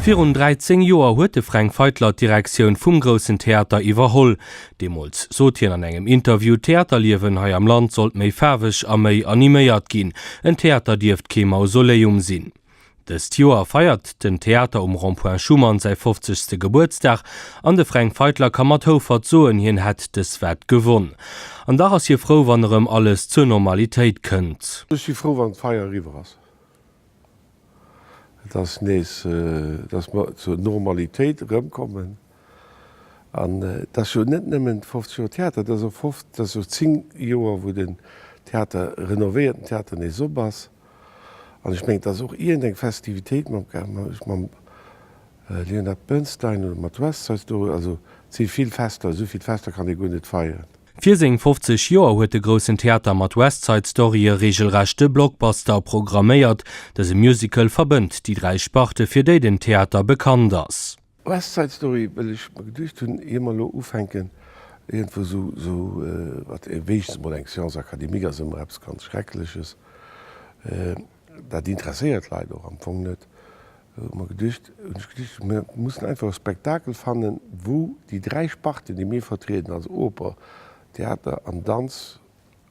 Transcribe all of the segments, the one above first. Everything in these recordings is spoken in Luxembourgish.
Virun 13 Joer huet de Fränk Feitler d'Direktioun vum Groussen Theater iwwerholl. Deemools sot hien an engem Interview, d'Theaterliewen hei am Land sollt méi faarweg a méi animéiert ginn. En Theater dierft kee Mausoleum sinn. Dëst Joer feiert den Theater um Rond-Point Schuman säi 50. Gebuertsdag an de Fränk Feitler ka mat Houfert soen, hien hätt dës Wett gewonn. An dach ass hie frou, wann erëm alles zur Normalitéit kënnt. Ech si frou, wann d'Feier eriwwer ass, dass mir zur Normalitéit erëmkommen. An et ass jo net nëmmen 50 Joer Theater, et ass och 50, et ass jo 10 Joer, wou den Theater renovéierten Theater nees op ass. An ech mengen, et ass och iergendeng Festivitéit mam mam Leonard Bernstein oder mat West Side Story, also et si vill Fester, esou vill Fester kann ee guer net feieren. Fir seng 50 Joer huet de Groussen Theater mat West Side Story e reegelrechte Blockbuster programméiert. Dëse Musical verbënnt déi dräi Sparte, fir déi den Theater bekannt ass. West Side Story, well ech mer geduecht hunn, ier mer elo ufänken iergendwou esou mat, wéinstens emol eng Science académique ass ëmmer eppes ganz Schreckleches, dat interesséiert d'Leit och am Fong net, hu mer geduecht, hunn ech geduecht, mir mussen einfach e Spektakel fannen, wou déi dräi Sparten, déi mir vertrieden, also Oper, Theater an Danz,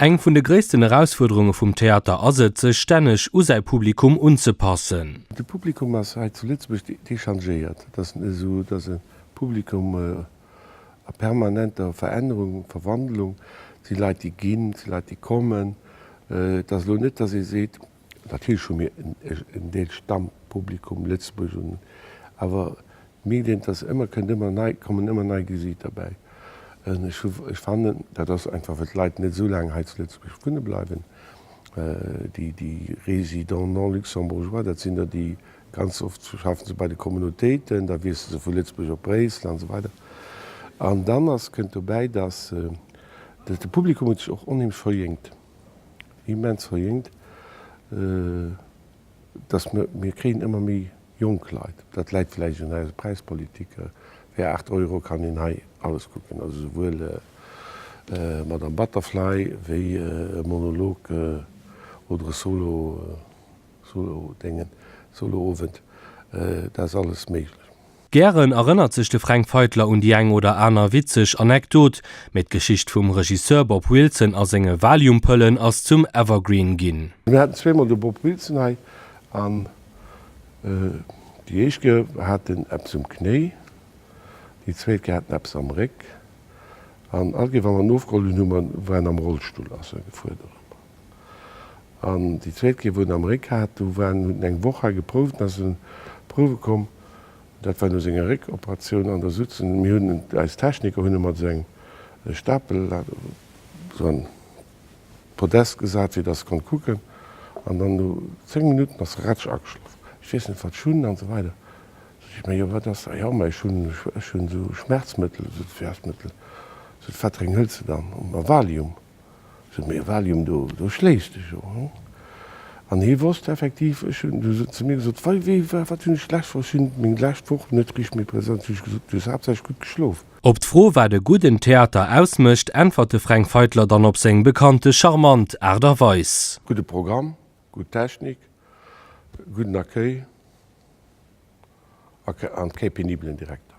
Eng vun de gréissten Erausfuerderunge vum Theater ass et, sech stänneg u säi Publikum unzepassen. De Publikum ass hei zu Lëtzebuerg dechangéiert. Et ass esou, datt e Publikum a permanenter Verännerung, Verwandlung, et si Leit, déi ginn, et si Leit, déi kommen. Et ass elo net, datt ee seet, Natierlech hu mir en Deel Stammpublikum, Lëtzebuerg, un, awer mierkt een, dass ëmmer kënnt ëmmer nei, kommen ëmmer nei Gesiichter bäi. Ech hu, ech fannen, dat ass einfach well d'Leit net esou laang hei zu Lëtzebuerg wunne bleiwen, déi, déi Résidents non luxembourgeois, dat sinn der, déi, ganz oft schaffen se bei de Communautéiten, da wiessele se vu Lëtzebuerg op Bréissel an esou weider. An dann ass, kënnt dobäi, dass, dass de Publikum huet sech och onheemlech verjéngt. immens verjéngt, dass mer, mir kréien ëmmer méi jonk Leit. Dat läit vläicht un eiser Präispolitik, fir 8 Euro kann een hei alles kucken, also souwuel Madame Butterfly wéi e Monolog oder e Solo, Solo-Déngen, Solo-Owend, dat ass alles méiglech. Gären erënnert sech de Fränk Feitler un déi eng oder aner witzeg Anekdot, mee d'Geschicht vum Regisseur Bob Wilson a senge Valium-Pëllen ass zum Evergreen ginn. Mir haten zweemol de Bob Wilson hei an déi éischt Ke haten eppes um Knéi, déi zweet Ke haten eppes am Réck an all Ke, wa mer en ofgeholl hunn, hu mer, war en am Rollstull, ass e gefuerdert. An déi zweet Kéier, wou en am Réck hat, do war en, hunn eng Woch hei geprouft, an da sinn en prouwe komm, dat war no senger Réckoperatioun, an da sot se, mir hunn en, eis Techniker hunn e mat esou engem Stapel dat op esou en Podest gesat, fir dass e konnt kucken, an dann no zéng Minutten ass e ratsch ageschlof, ech weess net, wat ech hunn, an esou weider. Sot hie, mä jo, wat ass? A jo, mä ech hunn, ech hunn esou Schmerzmëttel, esou Schmerzmëttel. Sot, wat drénk hëls de dann? Valium. Sot mir, Valium, do do schléifs de jo, hm? An hie wosst effektiv, ech hunn, du sot zu mir gesot, wei wéi wa wat hunn ech d'lescht Woch, ech hunn meng lescht Woch net richt méi präsent, hunn ech gesot, du hues haaptsächlech gutt geschlof. Op d'Fro, wat e gudden Theater ausmécht, äntwert de Fränk Feitler dann op seng bekannte charmant Aart a Weis. Gudde Programm, gutt Technik, gudden Accueil. an kee penibelen Direkter.